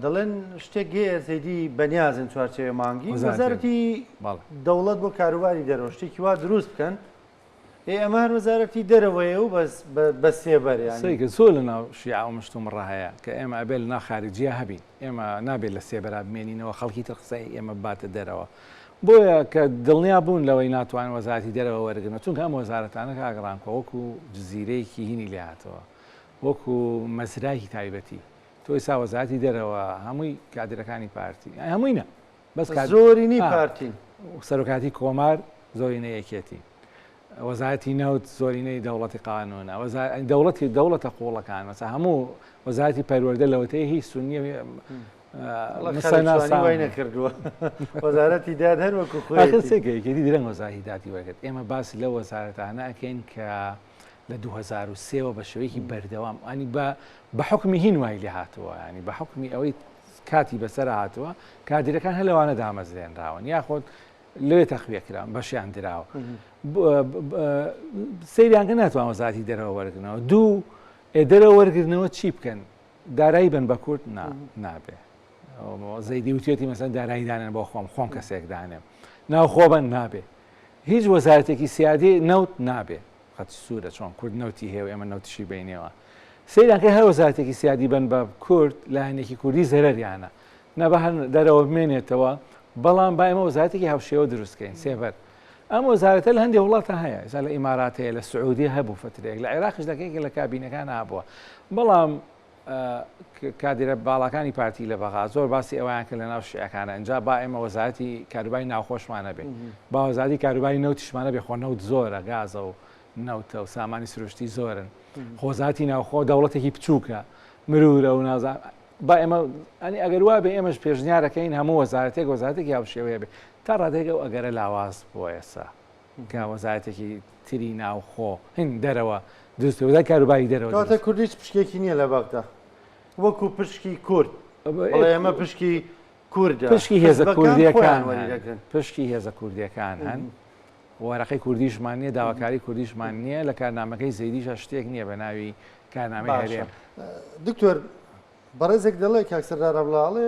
دەڵێن شتێک گەیە زەیدی بەنیازن چوارچێوێ مانگی وەزارەتی دەوڵەت بۆ کاروباری دەرەوە شتێکی وا دروست بکەن ئێ ئەمە هەر وەزارەتی دەرەوەیە و بەس بە سێبەر سەیکە زۆر لە ناو شیعە و مشتوم ڕەهەیە کە ئێمە ئەبێل ناخارجیە هەبین ئێمە نابێت لە سێبەرا بمێنینەوە خەڵکی تر قسەی ئێمە باتە دەرەوە بۆیە کە دڵنیا بوون لەوەی ناتوانن وەزارەتی دەرەوە وەرگرنەوە، چونکە ئەم وەزارەتانە کاک ڕامکۆ وەکو جزیرەیەکی هینی لێ هاتەوە، وەکو مەزرایەکی تایبەتی، تۆ ئیستا وەزارەتی دەرەوە هەمووی کادیرەکانی پارتی، ئەی هەمووی نا، بەس کادر، زۆرینەی پارتین، سەرۆکایەتی کۆمار زۆرینەی یەکێتین، وەزارەتی نەوت زۆرینەی دەوڵەتی قانونە وەزارەتی دەوڵەتی دەوڵەتە قوڵەکان مەسە هەموو وەزارەتی پەروەەردە لەوەتەی هی سنیە سەناسای نەکردووە وەزارەتی داد هەر وەکو خۆێکی درەنگ وەزاری دادی وەرگرت ئێمە باس لە وەزارەتانە ئەکەین کە لە 2023ەوە بە شێوەیەکی بەردەوام ئەنی بە بە حکمی هین وای لێ هاتووە ینی بە حکمی ئەوەی کاتی بەسەر هاتووە کادیرەکان هەلوانە دامەزرێنراون یاخۆت لەوێ تەخویە کران بەشیان دراوە سریانکە ناتوان وەزاتی دەرەوە وەرگنەوە دوو دەرەوە وەرگرنەوە چی بکەن دارایی بن بە کورد نابێ زەیدی وتێتی مەسەن داراییدانن بۆ خۆم خۆم کەسێکدانێ ناوخۆبەن نابێ هیچ وەزارەتێکی سیادی نەوت نابێ خەت سوورە چۆن کورد نەوتی هەیە ئێمە نەوتشی بینەوە سیرانکە هەر وەزارەتێکی سیادی بن بە کورد لایەنێکی کوردی زەرریانە نا با هەر دەرەوە بمێنێتەوە، بەڵام با ئێمە وەزارەتێکی هاوشێوە دروست بکەین، سێبەر. ئەم وەزارەتە لە هەندێک وڵاتە هەیە، ئێستا لە ئیمارات هەیە، لە سعودیە هەبوو فترەیەک، لە عێراقیش لە کێکێک لە کابینەکان هابووە، بەڵام کادرە باڵاکانی پارتی لە بەغا زۆر باسی ئەویان کە لە ناو شعەکانە ئەجا با ئێمە وەزارەتی کاروبای ناوخۆشمانە بێ باوەزاری کاروبای نەوتشمانە بێ خۆ نەوت زۆرە گازە و نەوتە و سامانی سروشتی زۆرن خۆزاتی ناوخۆ دەوڵەتێکی بچووکە مرورە و نازان با ئێمە ئەنی ئەگەر وا بێ ئێمەش پێشنیارەکەین هەموو وەزارەتێک وەزارەتێکی هاوشێوەیە بێ تا ڕادێک ئەو ئەگەرە لاواز بۆ ئێسا کە وەزارەتێکی تری ناوخۆ هین دەرەوە دروست وەزای کاروباری دەرەوە کاتە کوردیش پشکێکی نییە لە بەغدا وەکو پشکی کورد ئێمە پشکی کوردە پشکی هێزە کوردیەکان پشکی هێزە کوردیەکان هەن وەرەقەی کوردیشمان نیە داواکاری کوردیشمان نیە لە کارنامەکەی زەیدیشە شتێک نیە بە ناوی کارنامەی هەرێم دکتۆر بەڕێزێک دەڵێ کاکسەردارەبڵاڵێ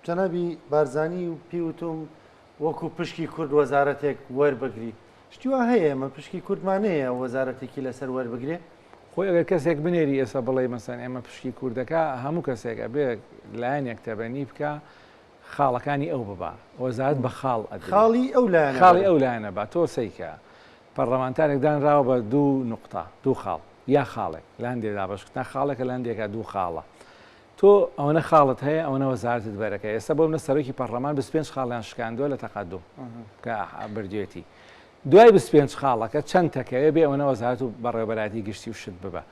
جەنابی بارزانانی و پیوتم وەکو پشکی کورد وەزارەتێک وەربگری شتیوا هەیە ئمە پشکی کوردمانەیە وەزارەتێکی لەسەر وەربگرێ خۆی ئەگەر کەسێک بنێری ئێستا بڵێ مەسەن ئێمە پشکی کوردەکە هەموو کەسێک ئەبێ لایەنێک تەبەنی بکە خاڵەکانی ئەو ببا وەزارەت بە خاڵ ئەدرێ خاڵی ئەو لایەنە خاڵی ئەو لایەنە با تۆ سەیکە پەڕلەمانتارێک دانراوە بە دوو نوقتە دوو خاڵ یا خاڵێک لە هەندێ دابەش کتنا خاڵێکە لە هەندێکا دوو خاڵە تۆ ئەوەنە خاڵت هەیە ئەوەنە وەزارەتت بەرەکە ئێستا بۆ منە سەرۆکی پەڕلەمان بیست پێنج خاڵیان شکاندووە لە تەقەدوم کە بردوێتی دوای بیست پێنج خاڵەکە چەند تەکەوێ بێ ئەوەنە وەزارەت و بەڕێوەبەرایەتی گشتی و شت ببە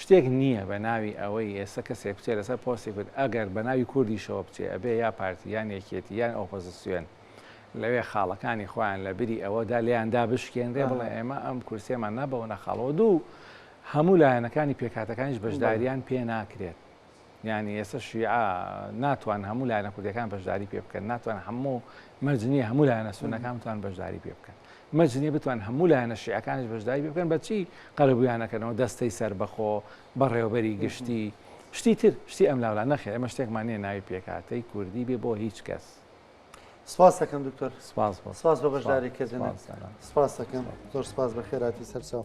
شتێک نییە بە ناوی ئەوەی ئێستا کەسێک بچێ لەسەر پۆستی کورد ئەگەر بە ناوی کوردیشەوە بچێ ئەبێ یا پارتی یان یەکێتی یان ئۆپۆزسیۆن لەوێ خاڵەکانی خۆیان لە بری ئەوەدا لێیان دابشکێنرێ بڵێ ئێمە ئەم کورسیەمان نابەوەنە خاڵەوە دوو هەموو لایەنەکانی پێکهاتەکانیش بەشداریان پێ ناکرێت. یانی ئێستا شیعە ناتوان هەموو لایەنە کوردیەکان بەشداری پێ بکەن ناتوان هەموو مەرجنی هەموو لایەنە سونەکان بتوان بەشداری پێ بکەن مەجنی بتوان هەموو لایەنە شیعەکانش بەشداری پێ بکەن بەچی قەرەبویانەکەنەوە دەستەی سربەخۆ بەڕێوەبەری گشتی شتی تر شتی ئەم لاولا نەخێ ئەمە شتێکمان نیە ناوی پێکاتەی کوردی بێ بۆ هیچ کەس سپاس دەکەم دکتۆر سپاس سپاس بە بەشداری کردن سپاس دەکەم زۆر سپاس بە خێراتی سەرچاو